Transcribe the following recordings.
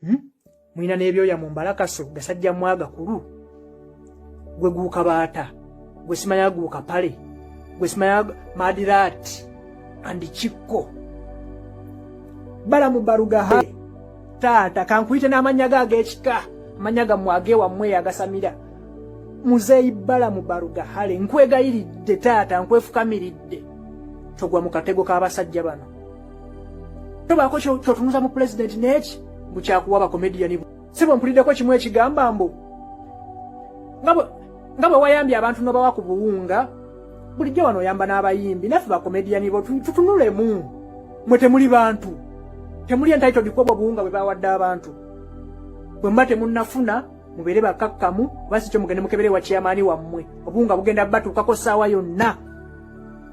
hmm? mulina n'ebyoya mu mbalakaso gasajja mwagakulu gwe guuka baata gwe simanya guuka pale gwe simanya madirat and kikko balamu barugaha taata kankuyite n'amannya ge ag'ekika amannya gammwe agewammwe yagasamira muzeeyi balamu barugahale nkwegayiridde taata nkwefukamiridde togwa mu katego k'abasajja bano tobaako kyotunuza mu pulezidenti neeki mbu kyakuwa bakomediyani si bwe mpuliddeko kimu ekigamba mbu nga bwe wayambye abantu nobawa ku buwunga bulijjo wano oyamba n'abayimbi naffe bakomediyani bo tutunulemu mwe temuli bantu temuli entitled kwobwo obuwunga bwe bawadde abantu bwe muba temunnafuna mubeere bakakkamu oba si kyo mugende mukebere wa kyamaani wammwe obuwunga bugenda batuukako ssaawa yonna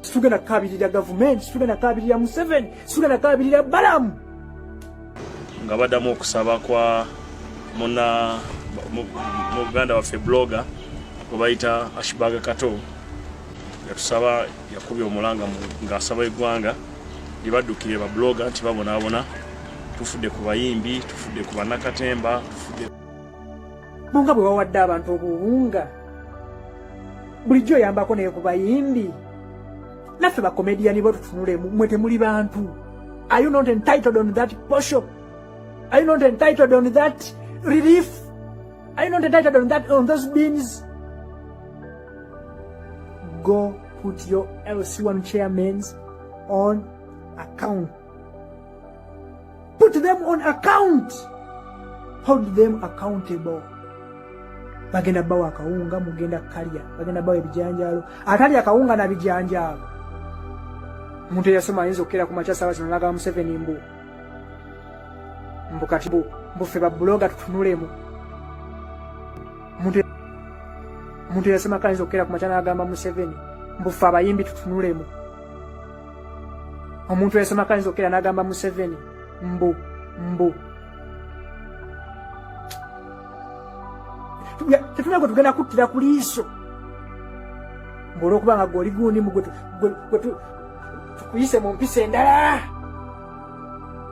Situgenda kukabirira gavumenti, situgenda kukabirira Museveni, situgenda kukabirira Balamu. Nga badamu okusaba kwa muna muganda waffe blogger gwe bayita Ashbaga Kato yatusaba yakubye omulanga ng'asaba eggwanga libaddukire babuloga nti babonaabona tufudde ku bayimbi tufudde ku bannakatemba tufudde munga bwe wawadde abantu obuwunga bulijjo oyambako naye ku bayimbi naffe bakomediyani bo tutunulemu mwe temuli bantu are you not entitled on that posho are you not entitled on that relief are you not entitled on that on those beans go put your lc1 chairmans on account Put them on account. Hold them accountable. Bagenda bawa akawunga mugenda kalya, bagenda bawa ebijanjaalo. Atalya akawunga na bijanjaalo. Omuntu eyasoma ayinza okukera ku makya saawa zino n'agaba Museveni mbu mbu kati mbu ffe babbulooga tutunulemu. Omuntu omuntu yasema kayinza okukera ku makya n'agamba Museveni mbu ffe abayimbi tutunulemu omuntu eyasoma kayinza okukera n'agamba museveni mbu mbu tetulina gwe tugenda kuttira ku liiso mbu olwokuba nga gwe oli gundi mu gwe tukuyise mu mpisa endala